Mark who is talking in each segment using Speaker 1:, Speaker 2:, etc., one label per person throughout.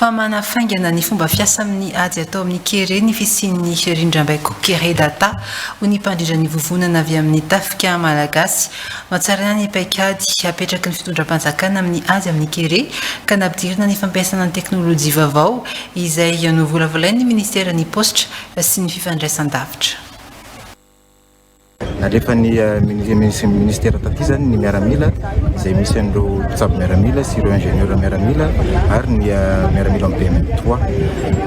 Speaker 1: fa manafaingana ny fomba fiasa amin'ny ady atao amin'ny kere ny fisian'ny rindrambaiko Kere Data, hoy ny mpandrindra ny vovonana avy amin'ny Tafika Malagasy. Nohatsaraina ny paikady apetraky ny fitondram-panjakana amin'ny ady amin'ny kere ka nampidirina ny fampiasana ny teknolojia vaovao, izay novolavolain'ny minisiteran'ny Paositra sy ny fifandraisan-davitra.
Speaker 2: Nalefan'ny Minisitera taty izany ny miaramila izay misy an'ireo mpitsabo miaramila sy ireo ingénieurs miaramila ary ny miaramila amin'ny BMTOA.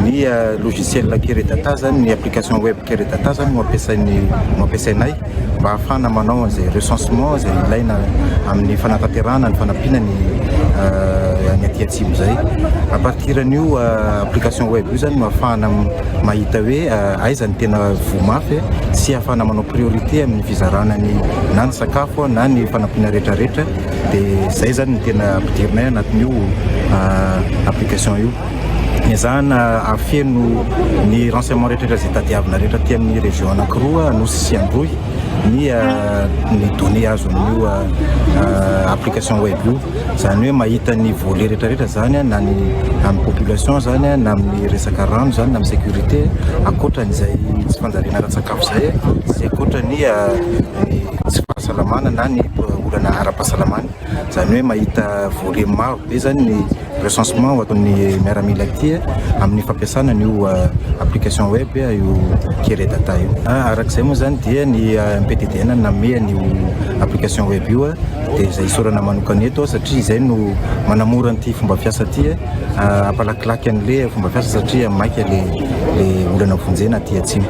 Speaker 2: Ny logiciel Keredata izany, ny application web Keredata izany no ampiasain'ny no ampiasainay mba hahafahana manao an'izay recensement izay ilaina amin'ny fanatanterahana ny fanampiana ny ny aty atsimo izay. A partir an'io application web io izany no ahafahana mahita hoe aiza ny tena voa mafy eh, sy hahafahana manao priorité amin'ny fizarana ny na ny sakafo na ny fanampiana rehetra rehetra dia izay zany ny tena ampidirinay anatin'io ah, application io ezahana afeno ny renseignement rehetrarehetra izay tadiavina rehetra aty amin'ny région anakiroa nosy sy androy ny ah, ny données azo amin'io ah, ah, application web io izany hoe mahita ny volet rehetra rehetra izany na ny amin'ny population izany na amin'ny resaka rano izany na amin'ny sécurité ankoatran'izay tsy fanjariana ara-tsakafo izay sy ankoatra ny tsy fahasalamana na ny olana ara-pahasalamana izany hoe mahita volet maro be izany ny recensement ho ataon'ny miaramila aty amin'ny fampiasana an'io application web io kere data io araka izay moa izany dia ny mptdn namehan'io application web io dia izay isaorana manokana eto satria izay no manamora an'ity fomba fiasa ity eh. ah, ampalakilaky an'le fomba fiasa satria maika le le olana vonjena aty atsimo